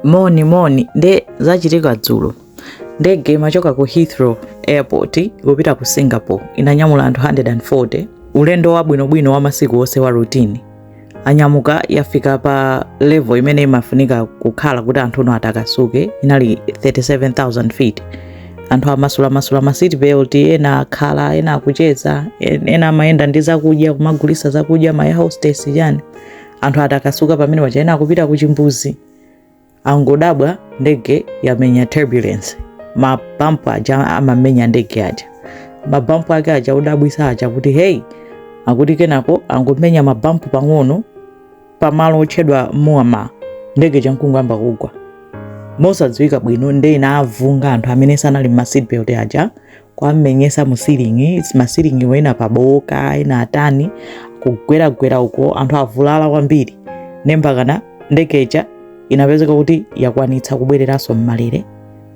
moni moni nde zachitika dzulo ndege imachoka ku heathrow airport kupita ku singapore inanyamula anthu 140 ulendo wabwinobwino wa masiku onse wa routine anyamuka yafika pa level imene imafunika kukhala kuti anthu ano atakasuke inali 37000 feet anthu amasulamasula ma seat belt ena akhala ena akucheza en- ena amayenda ndi zakudya kumagulisa zakudya ma air hostess chani anthu atakasuka pamene paja ena akupita ku chimbuzi angodabwa ndege yamenya turbulence mabampu aja amamenya ndege aja mabampu ake aja odabwisa aja kuti hey akuti kenako angomenya mabampu pang'ono pamalo otchedwa muama ndege ija nkungoyamba kugwa mosadziwika bwino nde inavunga anthu amene sanali mma seatbelt aja kuwamenyetsa mu ceiling ma ceiling ena pabowoka ena atani kugweragwera uko anthu avulala kwambiri nde mpakana ndege ija inapezeka kuti yakwanitsa kubwereranso mmalele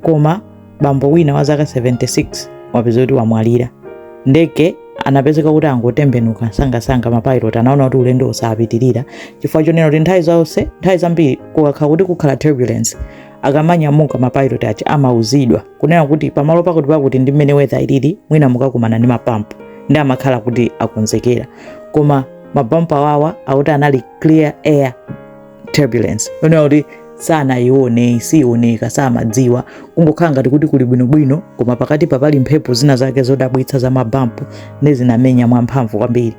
koma bambo wina wa zaka 76 wapezeka kuti wamwalira ndege anapezeka kuti angotembenuka sangasanga mapilot anaona kuti ulendo usapitirire chifukwa chonena kuti nthawi zonse nthawi zambiri kukakhala kuti kukhala turbulence akamanyamuka mapilot aja amauzidwa kunena kuti pamalo pakuti pakuti ndi mmene weather ilili mwina mukakumana ndi mabampu nde amakhala kuti akonzekera koma mabampu awawa akuti anali clear air turbulence kunena kuti sanaione siioneka samadziwa kungokhala ngati kuti kuli bwinobwino koma pakati papali mphepo zina zake zodabwitsa za mabampu nde zinamenya mwamphamvu kwambiri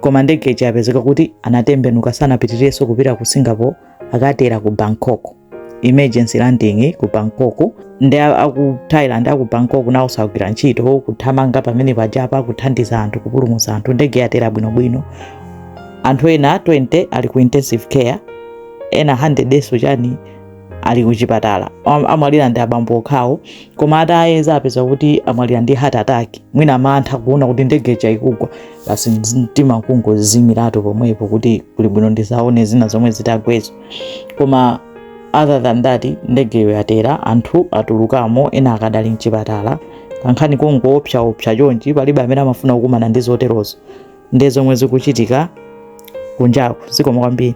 koma ndege ija yapezeka kuti anatembenuka sanapitirirenso kupita ku singapore akatera ku bangkok emergency landing ku bangkok nde a- aku thailand aku bangkok nawonso agwira ntchito kuthamanga pamene pajapa kuthandiza anthu kupulumutsa anthu ndege yatera bwinobwino anthu ena 20 ali ku intensive care ena 100 and so chani ali kuchipatala Am- amwalira ndi abambo okhawo koma atayeza apeza kuti amwalira ndi heart attack mwina mantha kuona kuti ndege ija ikugwa basi mtima kungozimiratu pomwepo kuti kuli bwino ndisaone zina zomwe zitagwezo koma other than that ndegeyo yatera anthu atulukamo ena akadali mchipatala kankhani kongoopsaopsa chonchi palibe amene amafuna kukumana ndi zoterozo nde zomwe zikuchitika kunjaku zikomo kwambiri